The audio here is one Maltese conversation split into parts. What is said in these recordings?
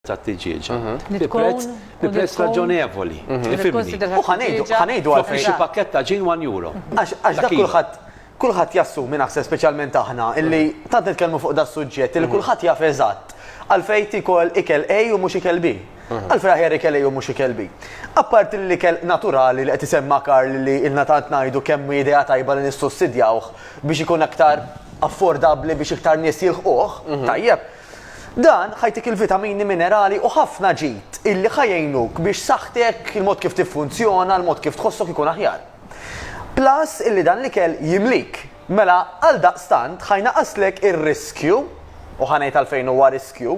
tat-tiġieġ bi prezz bi prezz raġonevoli. Tifhimni? U ħa ngħidu ħa ngħidu għalfejn. Toffri xi pakkett ta' ġin one euro. Għax għax dak kulħadd kulħadd jassumi naħseb speċjalment aħna illi tant nitkellmu fuq da suġġett li kulħadd jaf eżatt għalfejn tikol ikel A u mhux ikel B. Għalfejn aħjar ikel A u mhux ikel B. Apparti li ikel naturali li qed isemma Karl li ilna tant ngħidu kemm hi idea tajba li nissussidjawh biex ikun aktar affordabbli biex iktar nies jilħquh, tajjeb. Dan ħa jtik il-vitamini, minerali u ħafna ġid illi ħa jgħinuk biex saħħtek, il-mod kif tiffunzjona, il-mod kif tħossok ikun aħjar. Plus illi dan l-ikel jimlik. Mela għaldaqstant ħa jnaqqaslek ir-riskju, u ħa ngħid għalfejn huwa riskju,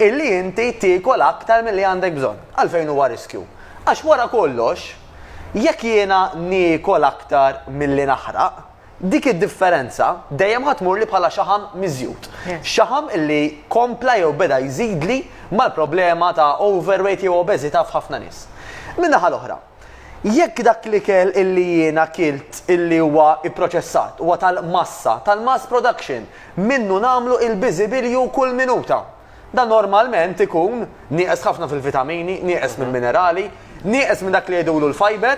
illi inti tiekol aktar milli għandek bżonn. Għalfejn huwa riskju? Għax wara kollox, jekk jiena niekol aktar milli naħraq, Dik id-differenza dejjem ħa tmurli bħala xaħam miżjud. Xaħam li kompla jew beda jżidli mal-problema ta' overweight jew obeżità f'ħafna nies. Min-naħa l-oħra, jekk dak l-ikel illi jiena kilt illi huwa pproċessat huwa tal-massa, tal-mass production, minnu nagħmlu il-biżibilju kull minuta. Dan normalment ikun nieqes ħafna fil-vitamini, nieqes minn minerali, nieqes minn dak li jgħidulu l-fiber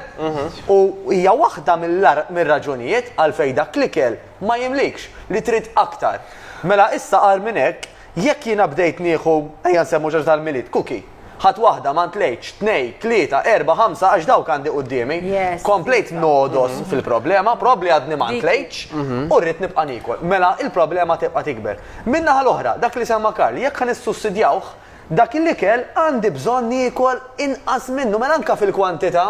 u hija waħda mir-raġunijiet għalfejn dak l-ikel ma jimlikx li trid aktar. Mela issa agħar minn hekk, jekk jiena bdejt nieħu, ejja nsemmu xi ħaġa tal-Milied, cookie. Ħadt waħda, ma ntlejtx, tnejn, tlieta, erbgħa, ħamsa għax dawk għandi quddiemi. Komplejt nogħdos mhm. fil-problema, probabbli għadni ma ntlejtx mhm. u rrid nibqa' nikol. Mela il-problema tibqa' tikber. Min-naħa l-oħra, dak li semma Karl, jekk ħan issussidjawh, dak il-ikel għandi bżonn nikol inqas minnu, mela anka fil-kwantità.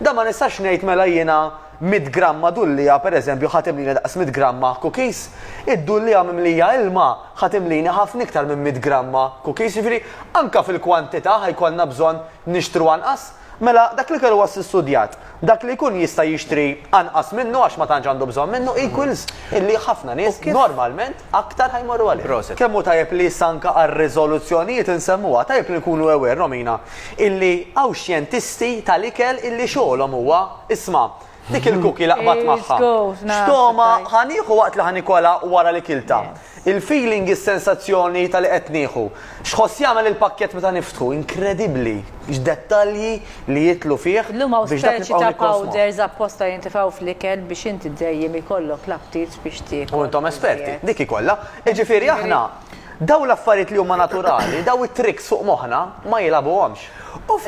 Da ma nistax ngħid mela jiena Mitt gramma dullija, pereżempju, ħa timlini daqs mitt gramma cookies. Id-dullija mimlija ilma ħa timlini ħafna iktar minn mitt gramma cookies. Jiġifieri, anke fil-kwantità ħa jkollna bżonn nixtru anqas. Mela, dak l-ikel huwa sstudjat. Dak li jkun jista' jixtri anqas minnu għax ma tantx għandu bżonn minnu equals illi ħafna nies normalment aktar ħa jmorru għalih. Proset. Kemm hu tajjeb li issa anke għar-riżoluzzjonijiet insemmuha. Tajjeb li nkunu aware, Romina, illi hawn xjentisti tal-ikel illi xogħolhom huwa. Isma', dik il-cookie la qbadt magħha. X'togħma ħa nieħu waqt li ħa nikolha wara li kiltha? Il-feeling, is-sensazzjoni ta' li qed nieħu. X'ħoss jagħmel il-pakkett meta niftħu? Inkredibbli x'dettalji li jidħlu fih biex dak nibqgħu nikkonsmuh. Powders apposta jintefgħu fl-ikel biex inti dejjem ikollok l-aptit biex tiekol. U intom esperti, dik hi kollha. Jiġifieri aħna dawn l-affarijiet li huma naturali, dawn it-tricks fuq moħħna ma jilagħbuhomx.